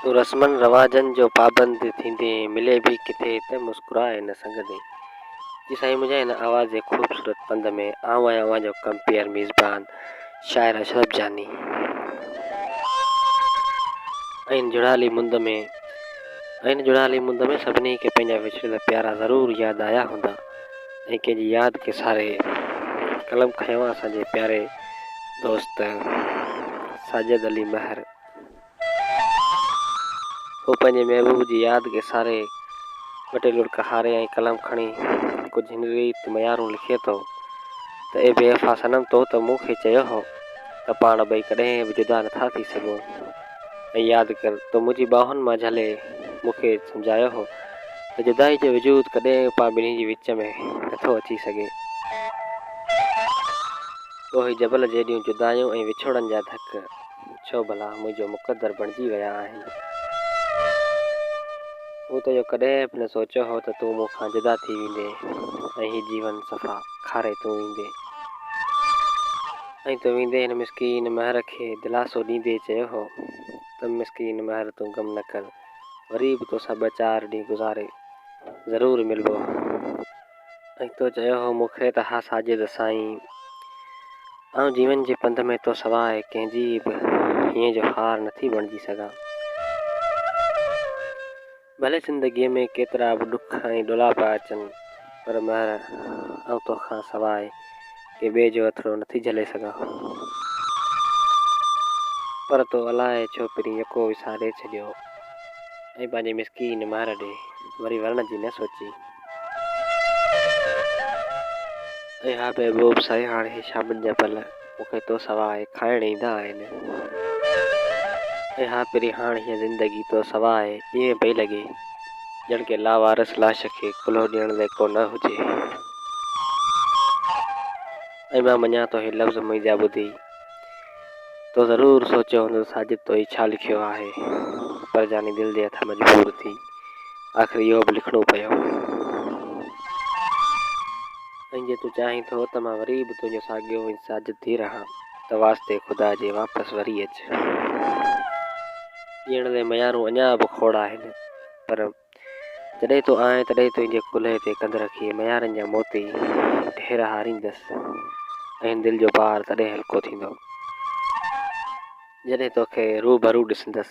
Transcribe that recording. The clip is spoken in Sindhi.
تون رسمن رواجن جو پابند ٿيندين ملي به ڪٿي ته مسڪرائي نه سگهندين جي سائين منهنجا هن آواز جي خوبصورت پنڌ ۾ آئون آهيان اوهان جو ڪمپيئر ميزبان شاعر اشرف جاني ۽ هن جڙالي مند ۾ ۽ هن جڙالي مند ۾ سڀني کي پنهنجا وڇڙيل پيارا ضرور ياد آيا هوندا. ۽ ڪنهن جي ياد کي ساري قلم کنيو آهي اسان جي پياري دوست ساجد علي مهر هو پنهنجي محبوب جي ياد کي ساري ٻه ٽي لڙڪ هاري ۽ قلم کڻي ڪجهه هن ريت ميارون لکي ٿو ته اي بي وفا صنم تو ته مون کي چيو هو ته پاڻ ٻئي ڪڏهن به جدا نه ٿا ٿي سگهون ۽ ياد ڪر تو منهنجي ٻانهن مان جهلي مون کي سمجهايو هو ته جدائي جو وجود ڪڏهن به پاڻ ٻنهي جي وچ ۾ نه ٿو اچي سگهي. تو هي جبل جيڏيون جدايون ۽ وڇوڙن جا ڌڪ ڇو ڀلا منهنجو مقدر بڻجي ويا آهن. مون ته اهو ڪڏهن به نه سوچيو هو ته تون مون کان جدا ٿي ويندين ۽ هي جيون صفا کاري تون ويندين. ائين تو ويندي هن مسڪين مهر کي دلاسو ڏيندي چيو هو ته مسڪين مهر تون غم نه ڪر وري به توسان ٻه چار ڏينهن گذاري ضرور ملبو ائين تو چيو هو مون کي ته ها ساجد سائين آئون جيون جي پنڌ ۾ تو سواء ڪنهن جي به هينئن جو هار نٿي بڻجي سگهان. ڀلي زندگيء ۾ ڪيترا به ڏک ۽ ڏولاپا اچن، پر مهر، آئون تو کان سواء ڪنهن ٻئي جو اٿڙو نٿي جهلي سگهان. پر تو الائي ڇو پرين يڪو وساري ڇڏيو ۽ پنهنجي مسڪين مهر ڏي وري ورڻ جي نه سوچي. ۽ ها محبوب سائين هاڻ هي شامن جا پل. مون کي تو سوا آهي کائڻ ايندا آهن. اي ها پري هاڻ هيء زندگي تو سوا آهي ائين پئي لڳي ڄڻ ڪنهن لاوارث لاش کي ڪلهو ڏيڻ لائق ڪو نه هجي. ۽ مان مڃان ٿو هي لفظ منهنجا ٻڌي تو ضرور سوچيو هوندو ساجد تو هي ڇا لکيو آهي پر جاني دل جي هٿان مجبور ٿي آخر اهو به لکڻو پيو. ۽ جي تون چاهين ٿو ته مان وري به تنهنجو ساڳيو ۽ ساجد ٿي رهان ته واسطي خدا جي واپس وري اچ. جيئڻ جي ميارون اڃا به کوڙ آهن پر جڏهن تون آئين تڏهن تنهنجي ڪلهي تي ڪنڌ رکي ميارن جا موتي ڍير هاريندس ۽ دل جو بار تڏهن هلڪو ٿيندو جڏهن توکي روبرو ڏسندس.